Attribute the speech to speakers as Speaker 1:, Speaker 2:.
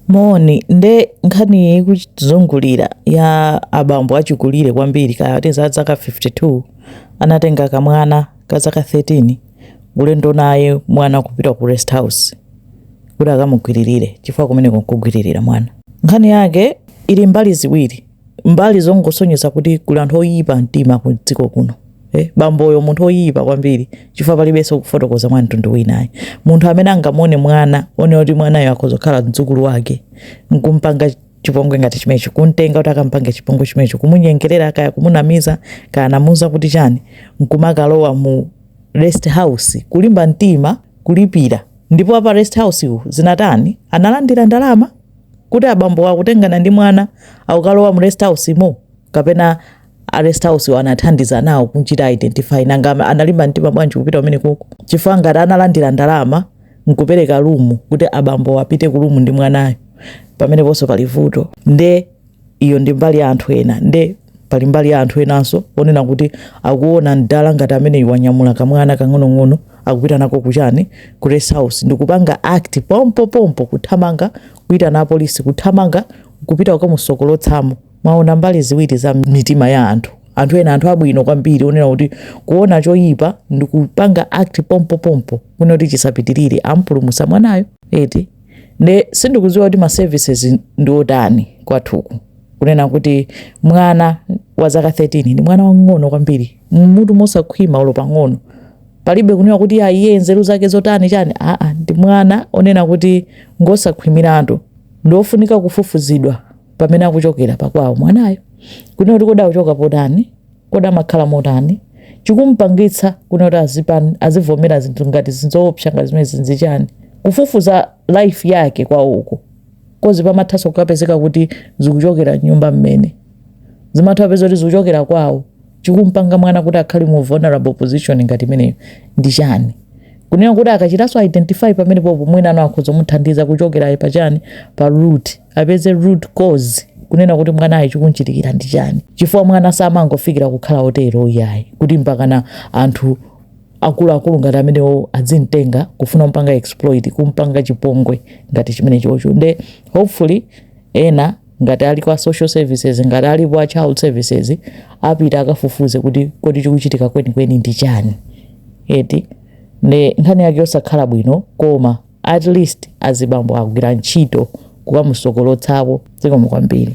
Speaker 1: Moni, nde nkhani iyi ikuzungulira ya abambo achikulire kwambiri kaya ati a zaka 52 anatenga kamwana ka zaka 13 ulendo naye mwana kupita ku rest house kuti akamugwiririre chifukwa kumeneko nkugwiririra mwana. Nkhani yake ili mbali ziwiri. mbali zongosonyeza kuti kuli anthu oyipa mtima ku dziko kuno eh, bamboyo munthu oyipa kwambiri chifukwa palibenso kufotokoza mwa mtundu wina ayi munthu amene angamuone mwana aone kuti mwanayo akhoza kukhala mdzukulu wake nkumpanga chipongwe ngati chimecho kumtenga kuti akampange chipongwe chimecho kumunyengerera kaya kumunamiza kaya anamuuza kuti chani nkumakalowa mu rest house kulimba mtima kulipira ndipo a pa rest house wo zinatani analandira ndalama kuti abambowa akutengana ndi mwana akukalowa mu rest house mo kapena a rest house wo anathandiza nawo kumchita identify nanga ama- analimba mtima bwanji kupita kumene koko chifukwa ngati analandira ndalama nkupereka lumu kuti abambowa apite ku lumu ndi mwanayo pameneponso pali vuto nde iyo ndi mbali ya anthu ena nde Pali mbali ya anthu enanso onena kuti akuona m'dala ngati ameneyu wanyamula kamwana kang'onong'ono akupita nako kuchani ku rest house ndikupanga act pompo pompo kuthamanga kuitana apolisi kuthamanga kupita kukamusokolotsamo. Mwaona mbali ziwiri za mitima ya anthu. Anthu ena anthu abwino kwambiri onena kuti kuona choyipa ndikupanga act pompo pompo kunena kuti chisapitirire amupulumutsa mwanayo eti nde sindikudziwa kuti ma services ndi otani kwathuku. kunena kuti mwana wa zaka 13 ndi mwana wang'ono kwambiri mutu mosakhwima olo pang'ono palibe kunena kuti ya iye nzeru zake zotani chani aa ndi mwana onena kuti ngosakhwimiratu ndiofunika kufufuzidwa pamene akuchokera pakwawo mwanayo kunena kuti kodi akuchoka potani kodi amakhala motani chikumpangitsa kunena kuti azipan- azivomera zinthu ngati izi zoopsa ngati zimenezi n'chichani kufufuza life yake kwawoko coz pamathanso kukapezeka kuti zikuchokera nyumba momwemo zimatha kupeza kuti zikuchokera kwawo chikumpanga mwana kuti akhale mu vulnerable position ngati imeneyo ndi chani kunena kuti akachitanso identify pamene popo mwina pano akhoza kumuthandiza kuchokerayo pa chani pa root apeze root cause kunena kuti mwanayo chikumchitikira ndi chani chifukwa mwana samangofikira kukhala otero iyayi kuti mpakana anthu akuluakulu ngati amenewo adzimtenga kufuna mpanga exploit kumpanga chipongwe ngati chimene chocho nde hopefully ena ngati aliko a social services ngati aliko a child services apita akafufuze kuti kodi chikuchitika kwenikweni ndi chani eti nde nkhani yake yosakhala bwino koma at least azibambo agwira ntchito kukamusokolotsapo zikomo kwambiri